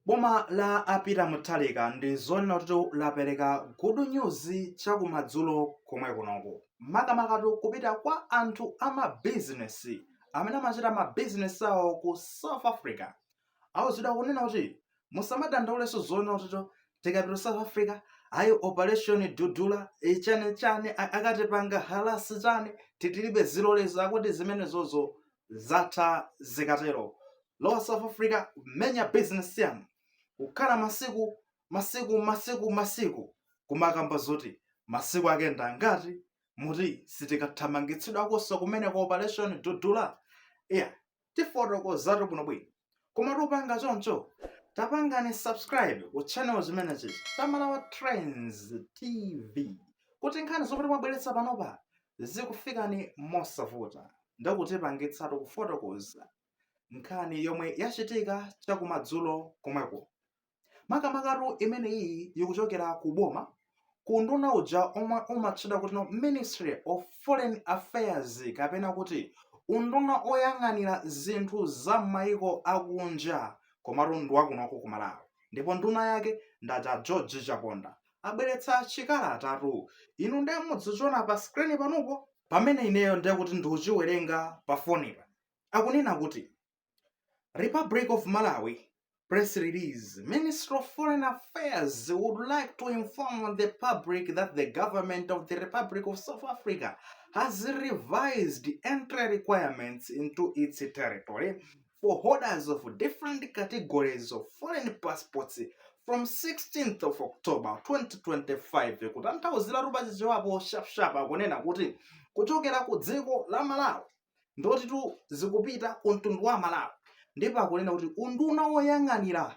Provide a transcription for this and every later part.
Boma la a Peter Mutharika ndi zonena kuti lapereka good news chakumadzulo komwe kunoku. Makamakatu kupita kwa anthu a mabizinesi amene amachita mabizinesi awo ku South Africa. Auzidwa kunena kuti musamadandaulenso zonena kuti tikapita ku South Africa ayi operation dudula eh, chani chani a- akatipanga harass chani titilibe zilolezo akuti zimenezozo zatha zikatero lowa south africa menya business yanu kukhala masiku masiku masiku masiku kumakamba zoti masiku ake ndi angati muti sitikathamangitsidwakonso kumene ku operation dudula iya tifotokozatu bwino bwino koma tisanapange choncho tapangani subscribe ku channel chimenechi cha malawi trends tv kuti nkhani zomwe timabweretsa panopa zikufikeni mosavuta ndikudzipangitsatu kufotokoza nkhani yomwe yachitika chakumadzulo komweko makamakatu imene iyi ikuchokera ku boma ku unduna uja omwe umatchedwa kuti no ministry of foreign affairs kapena kuti unduna oyang'anira zinthu za m'mayiko akunja komatu ndi wakunoko ku malawi ndipo nduna yake ndi aja george chaponda abweretsa chikalatatu inu nde mudzichiona pa screen panopo pamene ineyo ndiye kuti ndikuchiwerenga pa fonipa akunena kuti republic of malawi press release ministry of foreign affairs would like to inform the public that the government of the republic of south africa has revised entry requirements into its territory for holders of different categories of foreign passports from 16th of october 2025 kutanthauziratu pa chichewapo sharp sharp akunena kuti kuchokera ku dziko la malawi ndotitu zikupita ku mtundu wa malawi ndipo akunena kuti unduna woyang'anira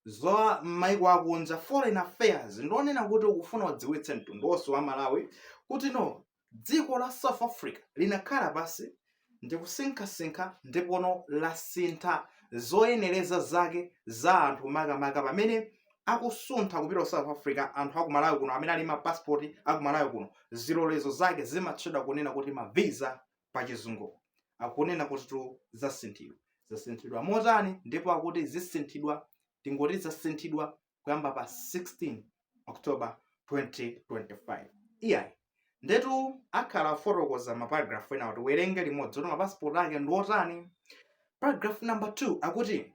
za maiko akunja foreign affairs ndi onena kuti ukufuna udziwitse mtundu wonse wa malawi kuti no dziko la South Africa linakhala pansi ndi kusinkhasinkha ndipono lasintha zoyenereza zake za anthu makamaka pamene akusuntha kupita South Africa anthu aku Malawi kuno amene ali ndi ma passport aku Malawi kuno zilolezo zake zimatchedwa kunena kuti ma visa pa chizungu akunena kutitu zasinthidwa zasinthidwa motani ndipo akuti zisinthidwa tingoti zasinthidwa kuyamba pa 16 october 2025 iyayi ndetu akhala akufotokoza maparagrafu enawo tiwerenge limodzi kuti mapasipoti ake ndi otani paragraph number 2 akuti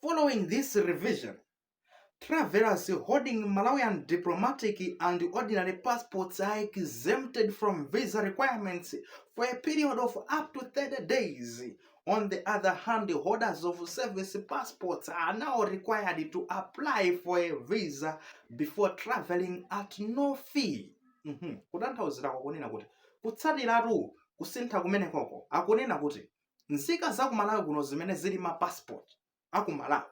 following this revision travelers holding malawian diplomatic and ordinary passports are exempted from visa requirements for a period of up to 30 days On the other hand, holders of service passports are now required to apply for a visa before traveling at no fee. Mhm. Kutanthauzira kokunena kuti kutsatiratu kusintha kumenekoko akunena kuti nzika za ku Malawi kuno zimene zili ma passport a ku malawi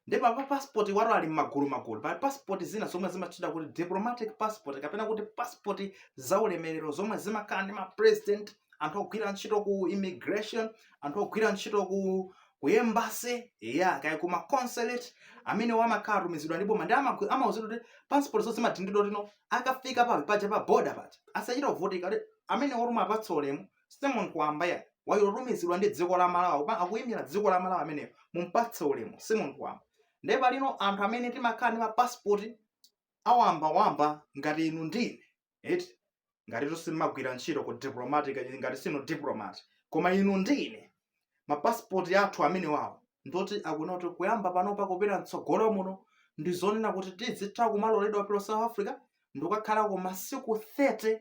ndi paja mapassport awatu ali m'magulu magulu pali passport zina zomwe zimatchedwa kuti diplomatic passport kapena kuti passport za ulemerero zomwe zimakhala ndi ma president anthu ogwira ntchito ku immigration anthu ogwira ntchito ku ku embassy ya kaya ku ma consulate amenewa amakhala atumizidwa ndi boma ndi amagu- amauzidwa kuti passport zawo zimadindidwa kuti no akafika pa paja pa border paja asachite kuvutika kuti amene wotumayo apatse ulemu Si munthu wamba ayi wotumizidwa ndi dziko la Malawi paja akuyimira dziko la Malawi ameneyo mumpatse ulemu si munthu wamba ndiye pali ino anthu amene timakhala ndi ma passport awamba wamba ngati inu ndi ine eti ngati simumagwira ntchito ku diplomatic ngati sinu diplomat koma inu ndi ine ma passport athu amenewawo ndoti akunena kuti kuyamba panopa kupita mtsogolo muno ndi zonena kuti tizitha kumaloledwa kulowa South Africa ndikukakhalako masiku 30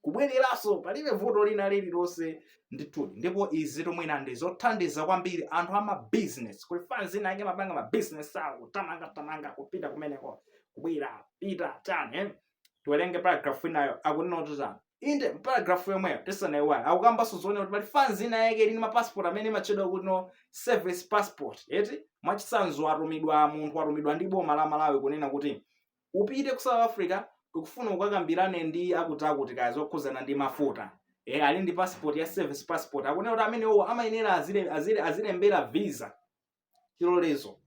kubwereranso palibe vuto lina lililonse ndithudi ndipo izitu mwina ndi zothandiza kwambiri anthu ama business kuli fans ina yake imapanga ma business awo kutamanga tamanga kupita kumeneko kubwera pita tani eh? tiwerenge paragraph inayo akunena kuti tani inde paragraph yomweyo tisanayiwale akukambanso zonena kuti pali fans ina yake ili ndi ma passport amene amatchedwa kuti no service passport eti mwachitsanzo atumidwa munthu atumidwa ndi boma la malawi kunena kuti upite ku south africa tikufuna ukakambirane ndi akuti akuti kaya zokhudzana ndi mafuta e, ali ndi passport ya service passport akunena kuti amenewo amayenera azile- azile- azilembera visa chilolezo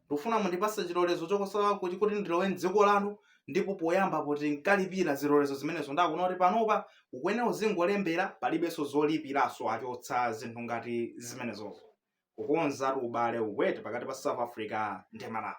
ndikufuna mundipatse chilolezo chokosawa kuti kuti ndilowe mdziko lanu ndipo poyamba akuti ankalipira zilolezo zimenezo ndiye akunena kuti panopa ukuyenera uzingolembera palibenso zolipiraso achotsa zinthu ngati zimenezozo kukonzatu ubale ukwere pakati pa south africa ndi malawi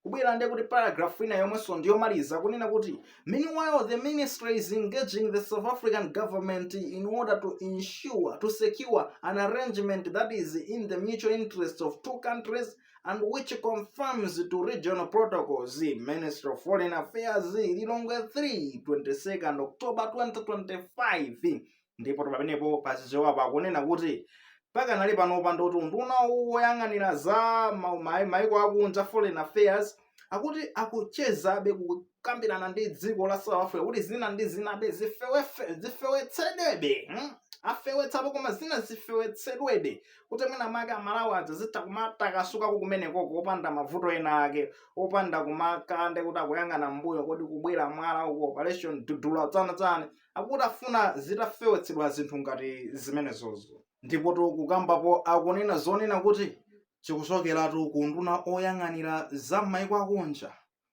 kubwera ndiye kuti paragraph ina yomwenso ndiyomaliza kunena kuti meanwhile the ministry is engaging the south african government in order to ensure to secure an arrangement that is in the mutual interest of two countries and which confirms to regional protocols ministry of foreign affairs lilongwe 3 22nd october 2025 ndipo pamenepo pachichewa akunena kuti pakanali panopa ndoti unduna woyang'anira za ma- ma- maiko akunja foreign affairs akuti akuchezabe kukambirana ndi dziko la south africa kuti zina ndi zinabe zifewefe- zifewetsedwebe hmm? afewetsapo koma zina zifewetsedwebe kuti mwina make amalawi adzazitha kumatakasukako kumenekoko opanda mavuto ena ake opanda kumakhala ndi kuti akuyang'ana mbuyo kodi kubwera mwala uko operation dudula tsana tsani akuti afuna zitafewetsedwa zinthu ngati zimenezozo. Ndipotu kukambapo akunena zonena kuti, Chikuchokeratu ku unduna woyang'anira za m'mayiko akunja,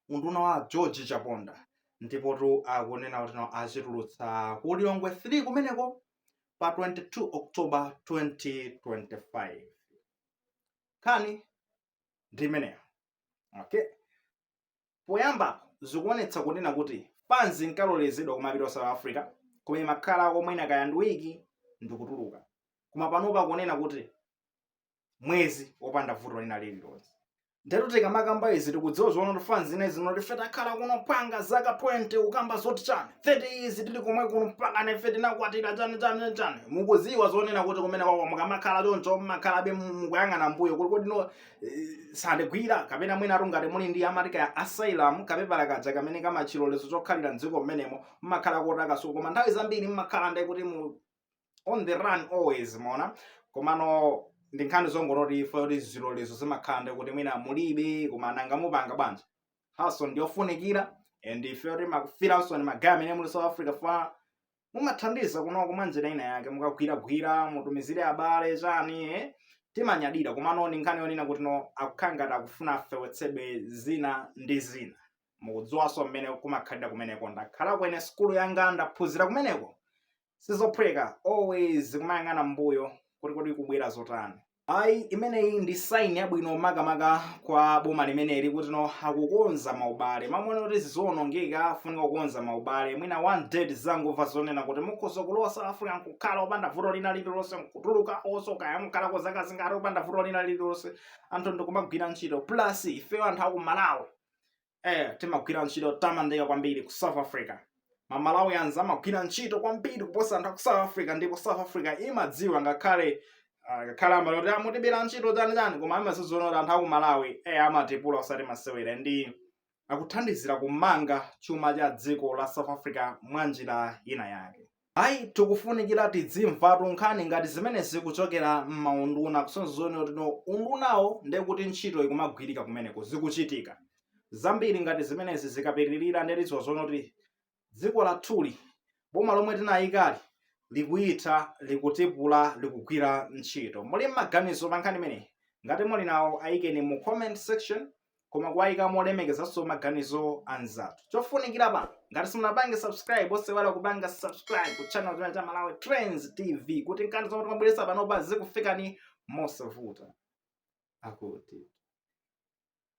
unduna wa a George Chaponda. Ndipotu akunena kuti no achitulutsa ku Lilongwe 3 kumeneko pa 22 October 2025. Nkhani ndi imeneyo. Okay? Poyambapo zikuonetsa kunena kuti fans inkalolezedwa kumapita ku South Africa koma imakhala kwa mwina kaya ndi wiki ndikutuluka. Koma panopa akunena kuti mwezi opanda vuto lina lililonse. Ndatu tikamakamba izi tikudziwa zonena kuti fans zina zinatife takhala kuno mpaka zaka 20 kukamba zoti chani 30 izi tili komwe kuno mpaka nefe tinakwatira chani chani chani mukuziwa zonena kuti kumene kwako mukamakhala choncho mmakhalabe mukuyang'ana mbuyo kuti kodi no sandigwila kapena mwina atungati muli ndi amatika ya asylum kapepala kaja kamene kama chilolezo chokhalira mdziko mmenemo mmakhala motakasuka koma nthawi zambiri mmakhala ndi kuti muli on the run always mona komano ndi nkhani zongoti ifetu zilolezo zimakhala ndi kuti mwina mulibe koma nanga mupanga bwanji haso ndiyofunikira and ife timakufilaninso ndi magaya amene muli south africa fa mumathandiza kunoko mwa njira ina yake mukagwiragwira mutumizire abale chani eh? timanyadira komano ndi nkhani yonena kuti no akukhala ngati akufuna afewetsebe zina ndi zina mukudziwanso mmene kumakhalira kumeneko ndakhalako ine sukulu yanga ndaphunzira kumeneko sizophweka always kumayang'ana mbuyo kuti kodi kubwera zotani ayi imeneyi ndi saini yabwino makamaka kwa boma limeneli kuti no akukonza maubale mmaona kuti zikuonongeka afunika kukonza maubale mwina one day tizangomva zonena kuti mukhoza kulowa south africa nkukhala opanda vuto lina lililonse nkutuluka oso kaya mukhalako zaka zingati opanda vuto lina lililonse anthu ndikumagwira ntchito plus ifeyo anthu aku malawi eh, timagwira ntchito yotamandika kwambiri ku south africa amalawi amati amagwira ntchito kwambiri kuposa anthu a ku south africa ndipo south africa imadziwa ngakhale ah, ngakhale amati akutibera ntchito chani chani koma amaziziona kuti anthu a ku malawi eh, amatipula osati masewera nde akuthandizira kumanga chuma cha dziko la south africa mwa njira ina yake Ayi, tikufunikira tidzimvatu nkhani ngati zimenezi kuchokera m'maunduna kusonyeza zonena kuti no undunawo ndiye kuti ntchito ikumagwirika kumeneko, zikuchitika. Zambiri ngati zimenezi zikapitirira ndiye tidziwa zonena kuti dziko lathuli, boma lomwe tinayikali likuyitha, likutipula, likugwira ntchito. Muli ndi maganizo pa nkhani imeneyi? Ngati muli nawo ayikeni mu comment section. koma kuwayika molemekezanso maganizo anzathu chofunikira pano ngati simunapange subscribe osaiwala kupanga subscribe ku channel chimenechi cha malawi trends tv kuti nkhani zomwe timabweresa panopa zikufikani mosavuta akuti